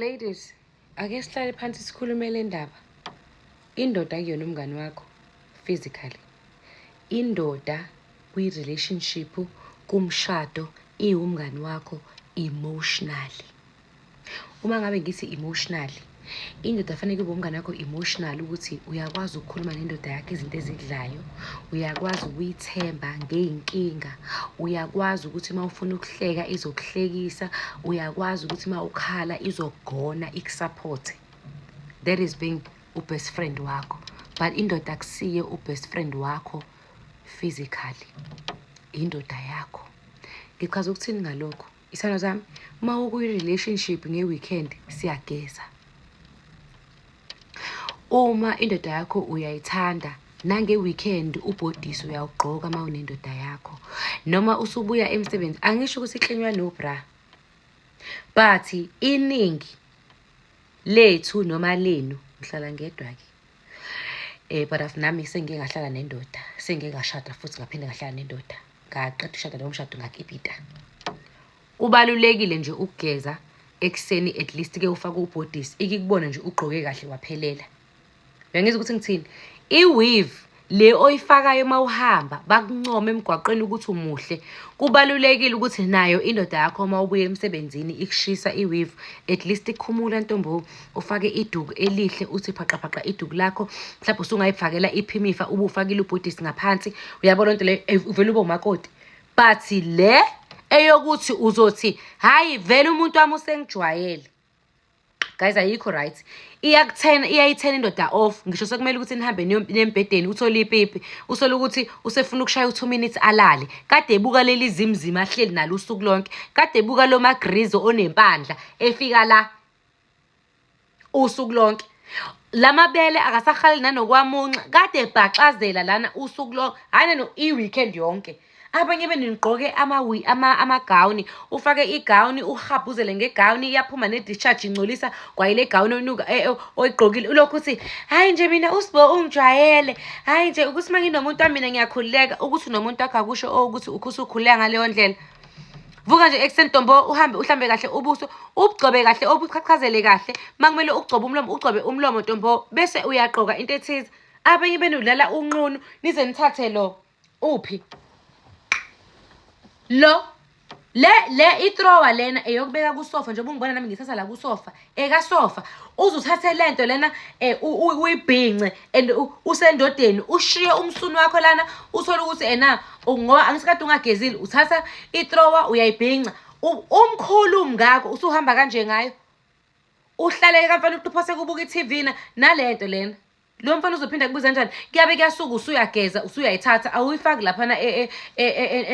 Ladies, ake sihlale phansi sikhulume le ndaba. Indoda kuyona umngani wakho physically. Indoda kwi-relationship kumshado iwumngani wakho emotionally. Uma ngabe ngithi emotionally indoda afanele kube umngane wakho emotional ukuthi uyakwazi ukukhuluma nendoda yakho izinto ezidlayo uyakwazi ukuyithemba ngey'nkinga uyakwazi ukuthi uma ufuna ukuhleka izokuhlekisa uyakwazi ukuthi uma ukhala izokugona ikusaphothe that is being ubest friend wakho but indoda akusiye ubest friend wakho physically indoda yakho ngichaza ukuthini ngalokho Isithando sami, uma ukwi-relationship nge-weekend siyageza. Uma indoda yakho uyayithanda nange-weekend ubhodisi uyawugqoka uma unendoda yakho. Noma usubuya emsebenzi, angisho ukuthi iklinywa no-bra. But iningi lethu noma lenu, ngihlala ngedwa-ke. Eh but as nami sengike ngahlala nendoda, sengike ngashada futhi ngaphinde ngahlala nendoda. Ngaqeda ukushada lowo mshado ngakipita. Kubalulekile nje ukugeza ekuseni at least ke ufake ubhodisi ikikubona nje ugqoke kahle waphelela. Uyangizwa ukuthi ngithini? I-weave le oyifakayo uma uhamba bakuncoma emgwaqeni ukuthi umuhle kubalulekile ukuthi nayo indoda yakho uma ubuye emsebenzini ikushisa iwivu at least ikhumula ntombo ufake iduku elihle uthi phaqaphaqa iduku lakho mhlawumbe usungayifakela iphimifa ube ufakile ubhodisi ngaphansi uyabo loo nto leyo eh, uvele ube umakoti but le eyokuthi uzothi hhayi vele umuntu wami usengijwayele guys ayikho right iyakuthena iyayithena indoda off ngisho sekumele ukuthi nihambe nembhedeni uthole ipipi usole ukuthi usefuna ukushaya u-two minutes alale kade ebuka leli zimzima ahleli nalo usuku lonke kade ebuka lo magrizo onempandla efika la usuku lonke lamabele akasahali nanokwamunxa kade ebhaxazela lana usuku lonke hhayi neno i-weekend yonke abanye benu nigqoke amawi ama amagawuni ufake igawuni uhabhuzele ngegawuni iyaphuma ne-discharge ingcolisa kwayile gawuni onuka e, e, oyigqokile ulokhu uthi hhayi nje mina usibo ungijwayele hhayi nje ukuthi uma nginomuntu wamina ngiyakhululeka ukuthi nomuntu wakho akusho oh, ukuthi usukhululeka ngaleyo ndlela vuka nje ekuseni ntombo uhambe uhlambe kahle ubuso ubugcobe kahle obuchachazele kahle uma kumele ugcobe umlomo ugcobe umlomo ntombo bese uyagqoka into ethize abanye benudlala unqunu nize nithathe lo uphi lo le le itrowa lena eyokubeka kusofa njengoba ungibona nami ngithatha la kusofa ekasofa uze uthathe le nto lena eh, u- u- uyibhince and u- usendodeni ushiye umsunu wakho lana uthole ukuthi ena u- ngoba angisikade ungagezile uthatha itrowa uyayibhinca U- umkhulu umngako usuhamba kanje ngayo uhlaleke kamfana uthi uphose kubuka i-tv na nale nto lena lo mfana uzophinda kubuza kanjani kuyabe kuyasuka usuyageza usuyayithatha awuyifaki laphana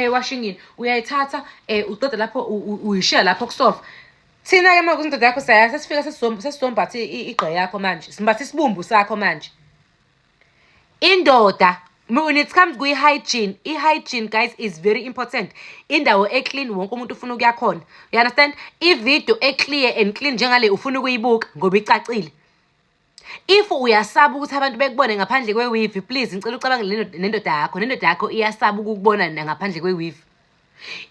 ewashingini e, e, e, uyayithatha um uqeda lapho uyishiya lapho kusofa thina-ke ma kuzindoda yakho saya sesifika sesizombatha igqe yakho manje simbatha isibumbu sakho manje indoda when it comes kwi-hygiene i-hygiene guys is very important indawo eclean wonke umuntu ufuna ukuya khona you understand ivideo eclear and clean njengale ufuna ukuyibuka ngoba icacile if uyasaba ukuthi abantu bekubone ngaphandle kwewivi please ngicela ucabange nendoda yakho nendoda yakho iyasaba ukukubona ngaphandle kwewivi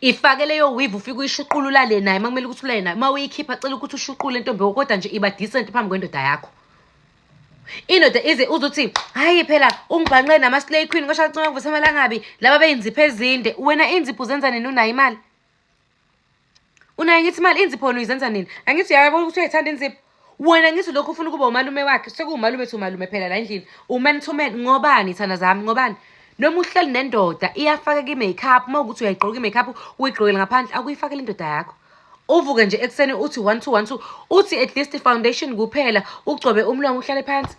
ifake leyo wivi ufike uyishuqula ulale naye uma kumele ukuthi ulale naye uma uyikhipha cela ukuthi ushuqule ntombi kodwa nje iba decent phambi kwendoda yakho indoda ize uzothi hayi phela ungibhanqe nama-slay queen kwashancoma kuvusa amalangabi laba beyinzipho ezinde wena inzipho uzenza nini unayo imali unaye ngithi imali inzipho wena uyizenza nini angithi uyayabona ukuthi uyayithanda inzipho wena ngithi lokho ufuna ukuba umalume wakhe sekuwumalume thi umalume phela la endlini uman to man ngobani thanda zami ngobani noma uhleli nendoda iyafaka ki-makeup uma ukuthi uyayigqoka i-makeup uyigqokele ngaphandle akuyifakele indoda yakho uvuke nje ekuseni uthi one two one two uthi at least foundation kuphela ugcobe umlomo uhlale phansi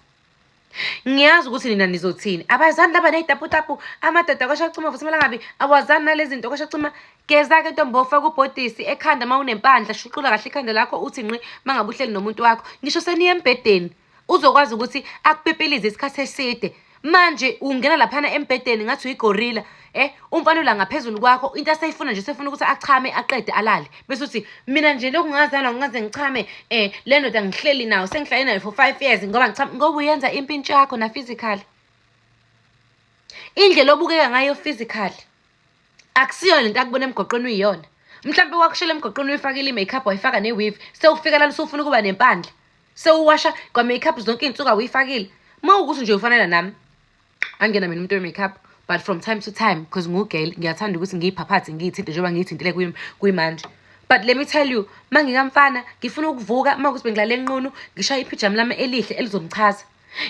ngiyazi ukuthi nina nizothini abazani laba ney'taputapu amadoda kwashacima futhi kumele ngabi awazani nalezi zinto kwashacima geza-ke ntombi ofaka ubhodisi ekhanda uma unempandla shuqula kahle ikhanda lakho uthi nqi uma ngabe uhleli nomuntu wakho ngisho seniye embhedeni uzokwazi ukuthi akupipilize isikhathi eside manje ungena laphana embhedeni ngathi uyigorila Eh umfana ula ngaphezulu kwakho into aseyifuna nje sefuna ukuthi achame aqede alale bese uthi mina nje lokhu ngazalwa ngaze ngichame eh le ndoda ngihleli nayo sengihlale nayo for 5 years ngoba ngichame ngoba uyenza impintsho yakho na physical indlela obukeka ngayo physical akusiyo lento akubona emgoqweni uyiyona mhlawumbe wakushela emgoqweni uyifakile i-makeup wayifaka ne-weave sewufika lana usufuna ukuba nempandla sewuwasha kwa-makeup zonke iy'nsuku awuyifakile uma ukuthi nje ufanela nami angena mina umuntu we-makeup but from time to time because ngugel ngiyathanda ukuthi ngiyiphaphathe ngiyithinte njengoba ngiyithintile kuyimanje but let me tell you ma ngikamfana ngifuna ukuvuka uma kuthi bengilale nqunu ngishaya iphijama lami elihle elizomchaza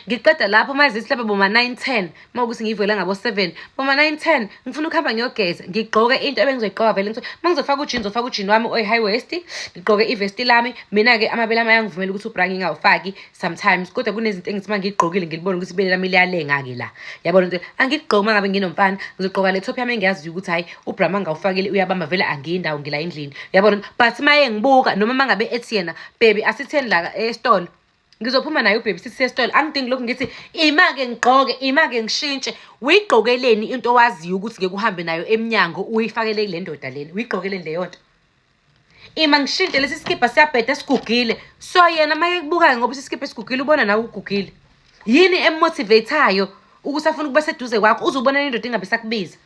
ngiqeda lapho uma zithi lapha boma 9 10 uma ukuthi ngivela ngabo 7 boma 9 10 ngifuna ukuhamba ngiyogeza ngigqoke into ebengizoyiqoka vele ngithi uma ngizofaka ujini ngizofaka ujini wami oyi-high west ngigqoke ivesti lami mina-ke amabele ami ayangivumela ukuthi ubra ngingawufaki sometimes kodwa kunezinto engithi uma ngiyigqokile ngilibone ukuthi ibele lami liyalenga-ke la yabona ukuthi angigqoki uma ngabe nginomfana ngizogqoka le top yami engiyaziyo ukuthi hhayi ubrama ngawufakile uyabamba vele angiyi ndawo ngila endlini yabona but uma engibuka noma uma ngabe ethi yena bebi asitheni la esitolo ngizophuma naye ubhebi sithi sesitolo angidingi lokhu ngithi ima-ke ngigqoke ima-ke ngishintshe uyigqokeleni into owaziyo ukuthi ngeke uhambe nayo emnyango uyifakele kule ndoda lena uyigqokeleni leyo nto Ima ngishintshe lesi sikibha siyabheda sigugile. So yena uma ekubukayo ngoba isisikibha esigugile ubona nawe ugugile. Yini emotivateayo ukuthi afuna ukuba seduze kwakho uze ubonane indoda ingabe isakubiza.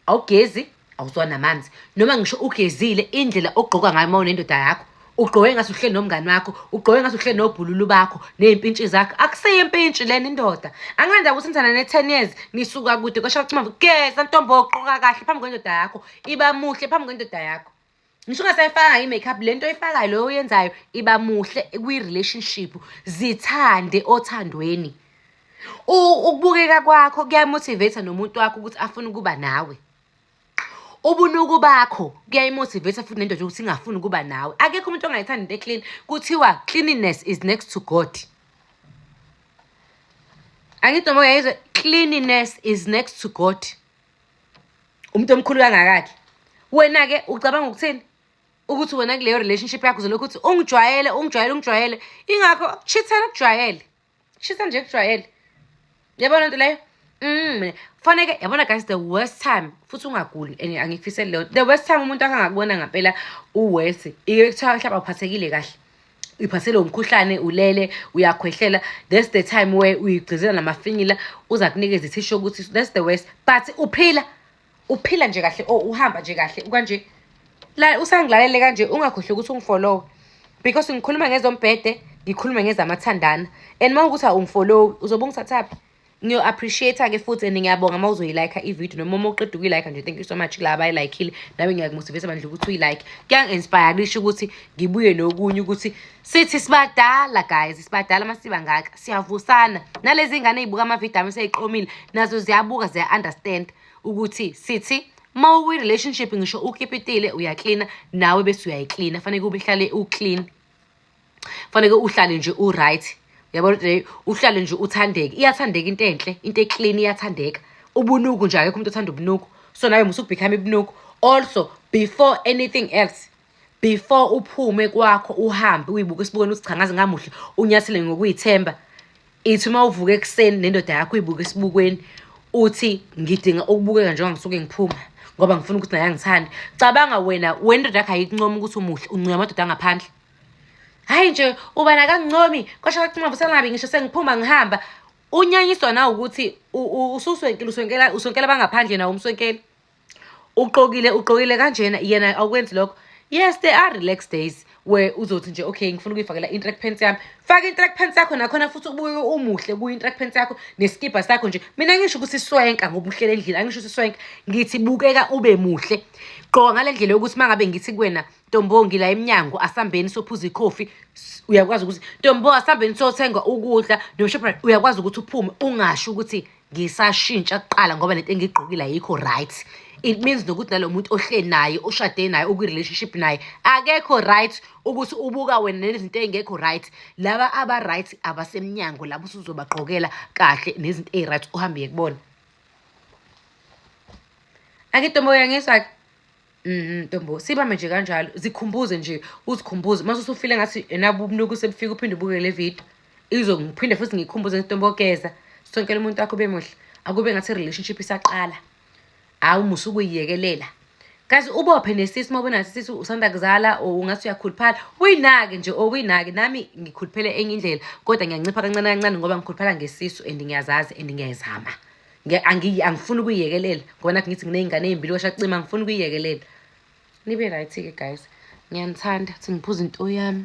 Awugezi, awuzwa namanzi. Noma ngisho ugezile indlela ogqoka ngayo uma unendoda yakho. Ugqoke ngathi uhleli nomngani wakho, ugqoke ngathi uhleli nobhululu bakho ney'mpintshi zakho. Akuseyo impintshi lena indoda. Anganda ukuthi nithanda ne-ten years nisuka kude kwasho ukuthi mama geza ntombo ogqoka kahle phambi kwendoda yakho. iba muhle phambi kwendoda yakho ngisho ungasayifakanga i-makeup le nto oyifakayo loyo oyenzayo iba muhle kwi-relationship zithande othandweni ukubukeka kwakho kuyamotivate nomuntu wakho ukuthi afune ukuba nawe ubunuku bakho kuyayimotivate futhi nendoda ukuthi ingafuni ukuba nawe akekho umuntu ongayithandi into eclean kuthiwa cleanliness is next to god angithi noma uyayizwa cleanliness is next to god umuntu omkhulu kangakakhe wena-ke ucabanga ukuthini ukuthi wena kuleyo relationship yakho uzolokhu ukuthi ungijwayele ungijwayele ungijwayele ingakho shithela kujwayele shitha nje kujwayele yabona nto leyo Mm, mina kufaneke yabona guys the worst time futhi ungaguli and angikufiseli leyo the worst time umuntu akangakubona ngampela uwese ike kuthiwa mhlawumbe awuphathekile kahle uyiphathelwe umkhuhlane ulele uyakhwehlela that's the time where uyigcizela namafinyila uza kunikeza ithisho ukuthi that's the worst but uphila uphila nje kahle or uhamba nje kahle kanje la usangilalele kanje ungakhohlwe ukuthi ungifolowe because ngikhuluma ngezombhede ngikhulume ngezamathandana and uma ukuthi awungifolowi uzobe ungithathaphi ngiyo appreciate ke futhi and ngiyabonga uma uzoyi like i video noma uma uqeda ukuyi like nje thank you so much la abayi like ile nawe ngiyakumotivate manje ukuthi uyi like kuyangi inspire kusho ukuthi ngibuye nokunye ukuthi sithi sibadala guys sibadala masiba ngaka siyavusana nalezi ngane ezibuka ama video ami seyiqomile nazo ziyabuka ziya understand ukuthi sithi uma uyi relationship ngisho ukhipitile uyaklina nawe bese uyayiklina fanele kube ihlale uklina faneke uhlale nje uright yabo le uhlale nje uthandeke iyathandeka into enhle into eclean iyathandeka ubunuku nje akekho umuntu othanda ubunuku so nawe musa ukubhikama ibunuku also before anything else before uphume kwakho uhambe uyibuke esibukweni uthi cha ngaze ngamuhle unyathele ngokuyithemba ithi uma uvuka ekuseni nendoda yakho uyibuka esibukweni uthi ngidinga ukubukeka njengoba ngisuke ngiphuma ngoba ngifuna ukuthi naye angithande cabanga wena wendoda yakho ayikuncomi ukuthi umuhle uncoya amadoda angaphandle hhayi nje uba nakangincomi kwasho kacinga busangabi ngisho sengiphuma ngihamba unyanyiswa na ukuthi ususwenkile uswenkela uswenkela bangaphandle nawo umswenkeli uqokile uqokile kanjena yena awukwenzi lokho yes they are relax days where uzothi nje okay ngifuna ukuyifakela intrack pants yami faka intrack pants yakho nakhona futhi ubuye umuhle kuyo intrack pants yakho neskibha sakho nje mina ngisho ukuthi swenka ngoba uhlele endlini angisho ukuthi swenka ngithi bukeka ube muhle gqoka ngale ndlela yokuthi uma ngabe ngithi kuwena ntombo ngila emnyango asambeni sophuza ikhofi uyakwazi ukuthi ntombo asambeni sothenga ukudla noshopri uyakwazi ukuthi uphume ungasho ukuthi ngisashintsha kuqala ngoba lento engiyigqokile ayikho right it means nokuthi nalo muntu ohleli naye ushade naye ukwi-relationship naye akekho right ukuthi ubuka wena nezinto ey'ngekho right laba aba-right abasemnyango labo usuzobagqokela kahle nezinto eyi-right uhambe ye kubona angidomoya ngizwa-ke Mhm, ntombo sibambe nje kanjalo zikhumbuze nje uzikhumbuze mase usufile ngathi enabo ubunuku sebufika uphinde ubuke le video izo ngiphinde futhi ngikhumbuze ntombo geza sonkele umuntu wakho bemuhle akube ngathi relationship isaqala hawu musa ukuyiyekelela kazi ubophe nesisi uma ubona sisi usanda kuzala or ungathi uyakhuluphala uyinake nje or uyinake nami ngikhuluphele enye indlela kodwa ngiyancipha kancane kancane ngoba ngikhuluphala ngesisu and ngiyazazi and ngiyayizama angiyi angifuni ukuyiyekelela ngoba nathi ngithi nginey'ngane ey'mbili kwasha cima angifuni ukuyiyekelela nibe right-ke guys ngiyanithanda ukuthi ngiphuza into yami